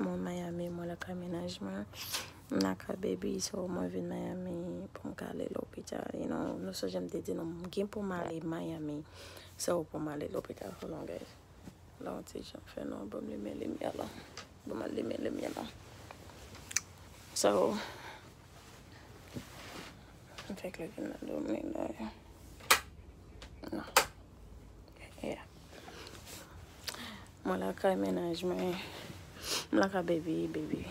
Mwen Miami mwen lakay menaj mwen m lakay baby so mwen vin Miami poum ka ale lopital you know nou sonje m te di nou m gen poum ale Miami so poum ale lopital hold on guys la yon ti jan fè nwa banm limen limyè la banm al limen limyè la so m fè klè vin nan do m li la nan. Yeah. Mwen lakay mennaj mwen. M lakay baby, baby.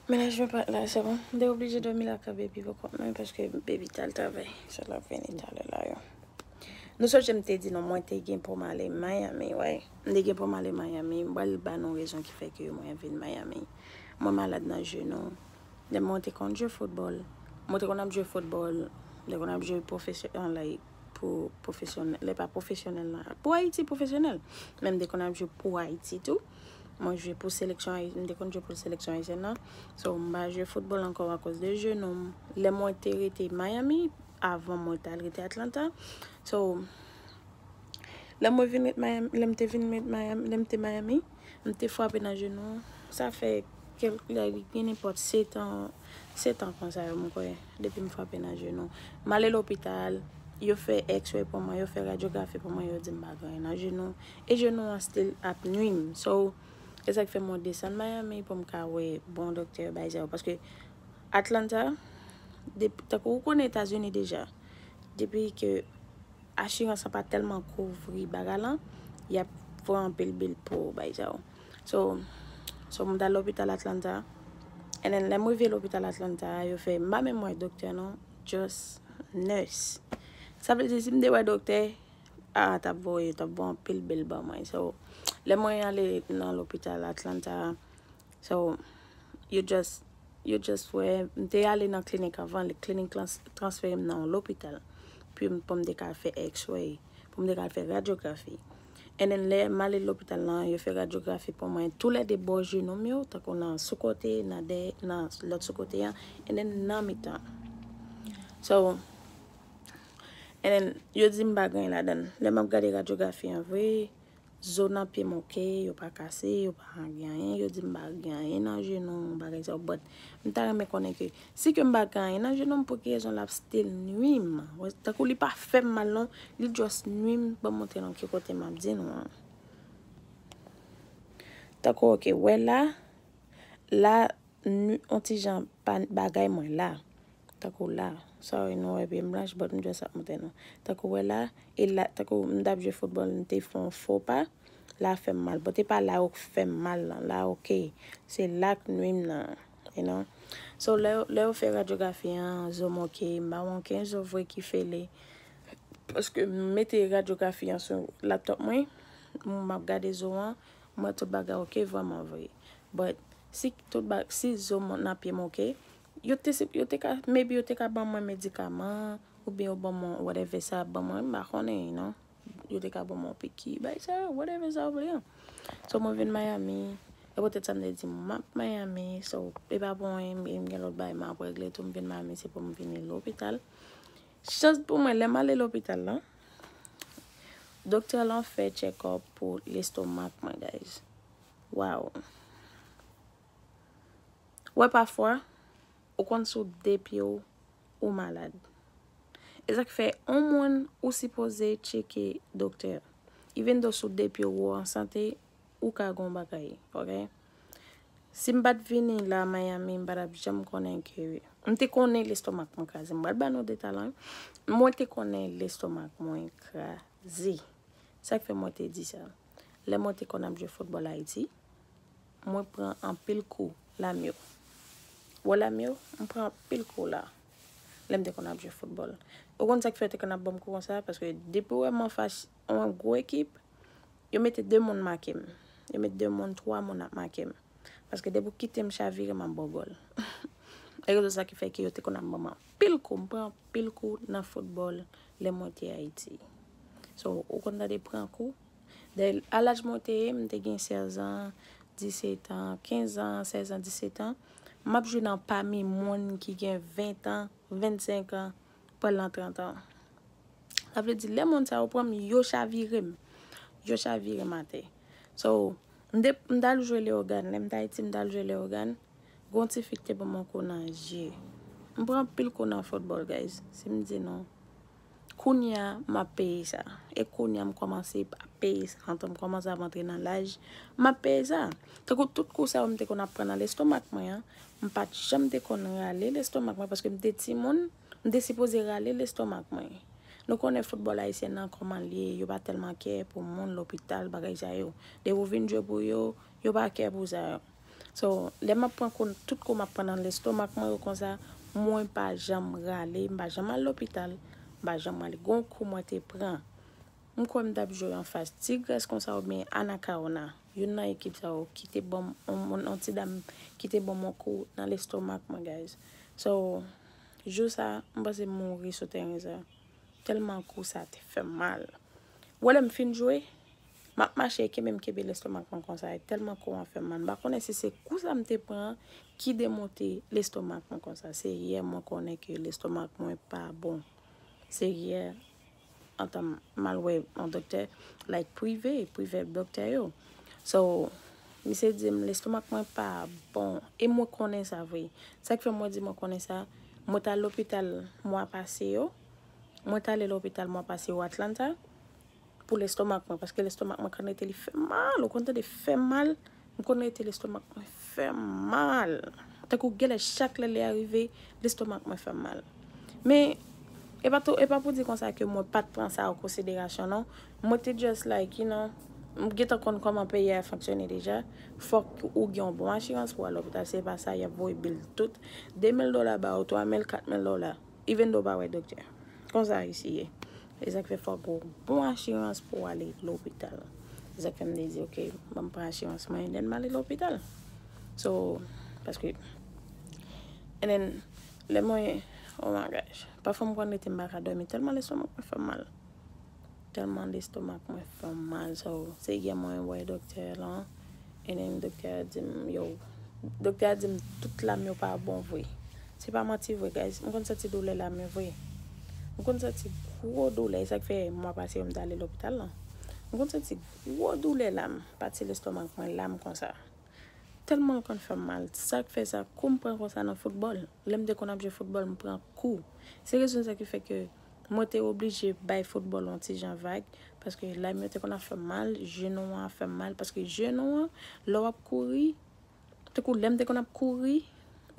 Mennaj mwen pat la se bon. M te oblije dòmi lakay baby poko mwen paske baby t al travay. Se l ap vini talè la yo. Nou sonje m te di nou mwen te gen pou m ale Miami wi. M te gen pou m ale Miami. M pral ba nou rezon ki fè ke mwen vin Miami. Mwen malad nan jenou. Lè mwen te konn jwe football, mwen te konn ap jwe football, lè konn ap jwe profesyon, an lay, pou profesyon, lè pa profesyonèl nan, pou Ayiti profesyonèl. Men m te konn ap jwe pou Ayiti tou. Mwen jwe pou seleksyon Ayi, m te konn jwe pou seleksyon Ayisyèn nan. So m pa jwe football ankò akoz de jenou m. Lè mwen te rete Miami, avan mwen t al rete Atlanta. So, lè mwen vin ret Miami, lè m te vin ret Miami, lè m te Miami. M te frape nan jenou an. Sa fè kèlk lane, pènenpòt, setan, setan konsa yo m kwè, depi m frape nan jenou. M ale lopital, yo fè x-ray pou mwen, yo fè radyografi pou mwen, yo di m pa gen anyen nan jenou m. E jenou an still ap nui m. So, e sa k fè mwen desann Miami pou m ka wè bon doktè yo bay sa yo. Paske Atlanta, depi, tankou ou konnen Etazini deja, depi ke. Assurance an pa telman kouvri bagay lan yap pran anpil bill pouw bay sa yo so so m tal lopital Atlanta and then lèm rive lopital Atlanta a yo fè m pa menm wè doktè non just nurse sa vle di si m te wè doktè a tap voye tap voye anpil bill ban mwen so lè mwen ale nan lopital Atlanta a So yo just yo just wè m te ale nan klinik avan li klinik lan transfere m nan yon lopital pou pou m te ka fè x-ray pou m te ka fè radyografi and then lè m ale lopital lan yo fè radyografi pou mwen tou lè 2 bò jenou m yo tankou nan sou kote nan dèyè nan lòt sou kote an and then nan mitan so and then yo di m pa gen anyen ladan l lè m ap gade radyografi an vre Zo nan pye m ok, yo pa kase, yo pa gen anyen, yo di m pa gen anyen nan jenou, yon bagay sa, but m ta renmen konnen ke si ke m pa gen anyen nan jenou m pou ki rezon lap still nwi m, tankou li pa fè m mal non, li just nwi m, banm montre nou ki kote map di nou an. Tankou ok, wè la, la nwi on ti jan bagay mwen la, Tankou la, sorry nou wè pye m blanch but m just ap montre nou. Tankou wè la, e la tankou m tap jwe football m te fon fo pa, la fèm mal but e pa la ok fèm mal nan, la ok se la k nwim nan you know. So lè yo lè yo fè radyografi an zo m ok, m pa wè anken zo vre ki fele paske m mete radyografi an sou laptop mwen, m ap gade zo an, m wè tout bagay ok vrèman vre but si tout ba si zo m nan pye m ok, Yo te se yo te ka maybe yo te ka ban mwen medikaman oubyen yo ban mwen whatever sa yap ban mwen an m pa konnen you know yo te ka ban mwen yon piki bagay sa yo whatever sa yo vle an so mwen vin Miami e poutèt sa m te di map Miami so e pa pou anyen e m gen lòt bagay map regle tou m vin Miami se pou m vini lopital chans pou mwen lè m ale lopital lan doktè lan fè tchekòp pou lestomak mwen guys waww. Wè pafwa ou konn sou 2 pyew ou malad ezak fè on moun ou sipoze tcheke doktè even though sou 2 pyew ou an sante ou ka gon bagay ok sim pat vini la miami mpa tap janm konnen ke mte konnen lestomak mwen kraze mwen pral ba nou deta lan mwen te konnen lestomak mwen kraze sak fè mwen te di sa lè mwen te konn ap jwe football ayiti. Mwen pran anpil kou la m yo. Wè la m yo, m pran anpil kou la. Lè m te konn ap jwe foutbòl. Ou konn sa k fè yo te konn ap ban m kou konsa? Paske depi yo wè m anfas yon gwo ekip, yo mete de moun make m. Yo met de moun, twa moun ap make m. Paske depi ou kite m chavire, m ap ba w gòl. Se rezon sa ki fè ke yo te konn ap ban m anpil kou. M pran anpil kou nan foutbòl lè mwen te Ayiti. So, ou konn tande pran kou, Dayè, a laj mwen te ye, m te gen 16 an, 17 an, 15 an, 16 an, 17 an, m ap jwi nan pami moun ki gen 20 an, 25 an, pou al nan 30 an. Sa vle di, lè moun sa yo pran m, yo chavire m. Yo chavire m atè. So, m te, m t al jwe Leyogàn. Lè m t Ayiti, m t al jwe Leyogàn. Gon ti fi ki te ban m yon kou nan je. M pran anpil kou nan foutbòl, guys. Si m di nou. Kounya m ap peye sa. E kounya m kòmanse ap peye sa. Antan m kòmanse ap antre nan laj, m ap peye sa. Tankou tout kou sa yo m te konn ap pran nan lestomak mwen an, m pa t janm te konn rale lestomak mwen paske m te timoun, m te sipoze rale lestomak mwen. Nou konnen foutbòl ayisyen nan kòman l ye, yo pa tèlman kè pou moun, lopital, bagay sa yo. Depi ou vin jwe pou yo, yo pa kè pou sa yo. So lè map pran kou tout kou map pran nan lestomak mwen yo konsa mwen pa janm rale mpa janm al lopital mpa janm rale gon kou mwen te pran mkwè mtap jwe anfas tigrès konsa oubyen anakawona youn nan ekip sa yo kite banm yon ti dam kite banm yon kou nan lestomak mwen guys so jou sa mpanse mouri sou tèren sa tèlman kou sa te fèm mal wè lèm fin jwe Map mache e kenbem kenbe lestomak mwen konsa e telman kou an fem mal m pa konnen si se kou sa m te pran an ki demonte lestomak mwen konsa senyè mwen konnen ke lestomak mwen pa bon senyè antan m al wè yon doktè like prive prive doktè yo so misye di m lestomak mwen pa bon e mwen konnen sa vre sak fè mwen di mwen konnen sa mwen t al lopital mwa pase yo mwen t ale lopital mwa pase yo Atlanta. Pou lestomak mwen paske lestomak mwen konn rete li fèm mal ou konn tande fèm mal m konn rete lestomak mwen fèm mal tankou genlè chak lè li arive lestomak mwen fèm mal men epa tou epa pou di konsa ke mwen pat pran sa an konsiderasyon non mwen te just like you know m gentan konn kòman peyi a fonksyone deja fòk ou gen yon bon asirans pou al lopital se pa sa yap voye bil tout 2000 dola ba ou 3000 4000 dola. Even though w pa wè doktè. Konsa Ayiti ye. E sa k fè fòk gen yon bon asirans pou w ale lopital. E sa k fè m te di ok, ban m pran asirans mwen dèn m ale lopital. So, paske And then, lè mwen, oh my gosh. Pafwa m konn rete m pa ka dòmi tèlman lestomak mwen fè m mal. Tèlman lestomak mwen fè m mal so se yè mwen wè doktè lan and then doktè a di m yo doktè a di m tout lam yo pa bon vre se pa manti vre guys m konn santi doulè lam yo vre m konn santi gwo doulè e sak fè mwa pase yo m t ale lopital lan m konn santi gwo doulè lam pati lestomak mwen lam konsa tèlman l konn fè m mal sak fè sa kou m pran konsa nan foutbòl lè m te konn ap jwe foutbòl m pran kou se rezon sa ki fè ke Mwen te oblije bay foutbòl yon ti jan vag, paske lay mwen te konn ap fè m mal, jenou an ap fè m mal, paske jenou an, lè w ap kouri, tankou lè m te konn ap kouri,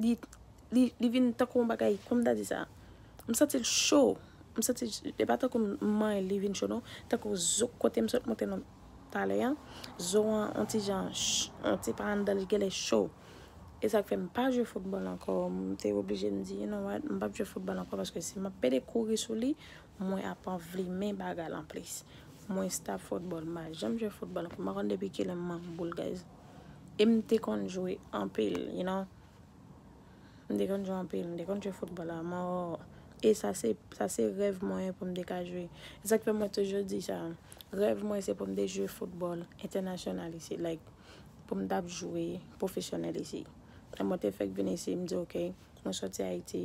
li, li, li vin tankou yon bagay, kòman m ta di sa? M santi l cho, m santi, e pa tankou m manyen l li vin cho non, tankou zo kote m sot monte nan. talè an zo an on ti jan on ti pa anndan li genlè cho e sak fè mpa jwe football ankò mte oblije mdi you know what mpap jwe football ankò paske si map pede kouri sou li mwen ap anvlimen bagay lan plis mwen stop football mpa janm jwe football ankò mpa konn depi kilè mmank boul guys e mte konn jwe anpil you know. M te konn jwe anpil, m te konn jwe foutbòl a mò e sa se sa se rèv mwen pou m te ka jwe. E sa k fè mwen toujou di sa, rèv mwen se pou m te jwe foutbòl entènasyonal isi like pou m t ap jwe pwofesyonèl isi. E mwen te fèk vin isi m di ok mwen soti Ayiti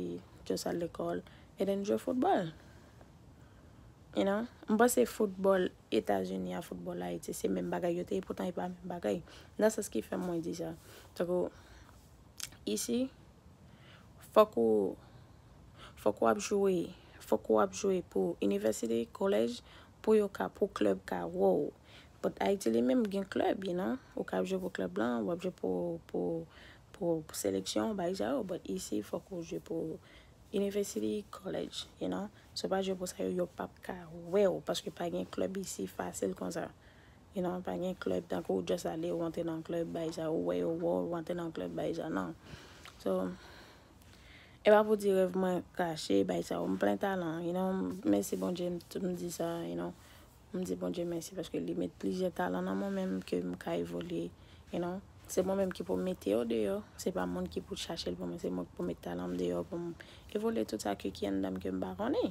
just al lekòl e then jwe foutbòl. You know, m panse foutbòl Etazini a foutbòl Ayiti se menm bagay yo te e poutan e pa menm bagay. Nan sans ki fè mwen di sa. Tankou Isi, fòk ou fòk ou ap jwe, fòk ou ap jwe pou inivèsite, kolèj, pou yo ka, pou klèb ka wè w. But Ayiti li menm gen klèb, you know. Ou ka ap jwe pou klèb lan, ou ap jwe pou, pou, pou seleksyon, bagay sa yo. But isi, fòk ou jwe pou inivèsite, kolèj, you know. Si w pa jwe pou sa yo, yo p ap ka wè w. Paske pa gen klèb isi fasil konsa. You know pa gen club tankou ou just ale ou antre nan club bay sa ou wè yo wè w ou antre nan club bay sa nan so e pa pou di rèv mwen kache bay sa ou m plen talan you know mèsi Bondye m tou m di sa you know m di Bondye mèsi paske li met plizyè talan nan mwen menm ke m ka evolye you know se mwen menm ki pou mete yo deyò se pa moun ki pou chache l pou mwen se mwen ki pou met talan m deyò pou m evolye tout sa ke ki anndan m ke m pa konnen.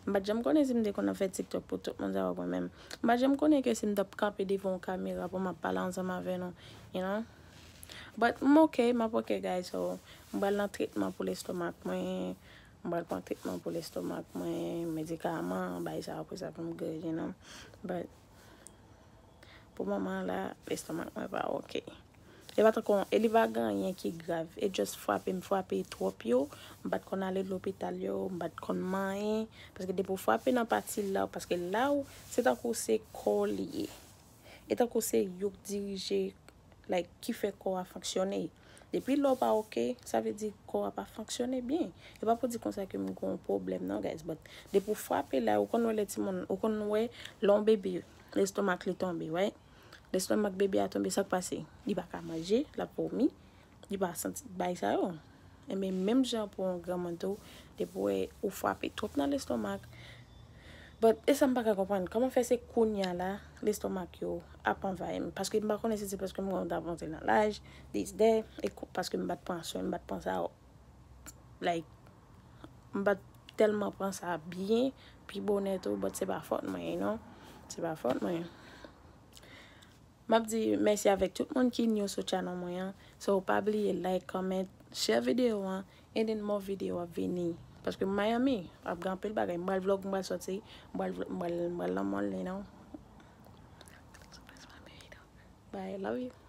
M pa t janm konnen si m te konn ap fè tiktok pou tout moun sa yo mwen menm. M pa t janm konnen ke si m t ap kanpe devan yon kamera pou m ap pale ansanm avè nou, you know. But m ok, m ap ok guys so, m pral nan tretman pou lestomak mwen, m pral pran tretman pou lestomak mwen, medikaman, bay sa pou sa pou m good, you know. But. Pou moman la, estomak mwen pa ok. E pa tankou, e li pa gen anyen ki grav. E just fwape m fwape twòp yo. M pa t konn ale lopital yo. M pa t konn manyen. Paske depi w fwape nan pati la w, paske la w, se tankou se kò w li ye. E tankou se yo k dirije, like, ki fè kò a fonksyone. Depi la w pa ok, sa vle di kò a pa fonksyone byen. E pa pou di konsa ke m gen yon pwoblèm non guys, but depi w fwape la, ou konn wè lè timoun, ou konn wè lè yon bebe Lestomak li tonbe right. Lestomak bebe a tonbe sak pase? Li pa ka manje, lap vomi, li pa santi bay sa yo. Enben menm jan pou yon granmoun tou, depi ou wè ou frape twòp nan lestomak, but e sam pa ka konprann, kòman fè se kounya la lestomak yo ap anvayi m? Paske m pa konnen si se paske m gen yon t avanse nan laj, this that, e paske m pat pran swen, m pat pran sa yo. like m pa t tèlman pran sa byen pi bonè tou but se pa fòt mwen you know se pa fòt mwen m ap di mèsi avèk tout moun ki new sou channel mwen an so pa bliye like, comment, share video an and then more video ap vini paske m Miami ap gen anpil bagay m pral vlog m pral sòti m pral m pral m pral nan mall you know bye love you.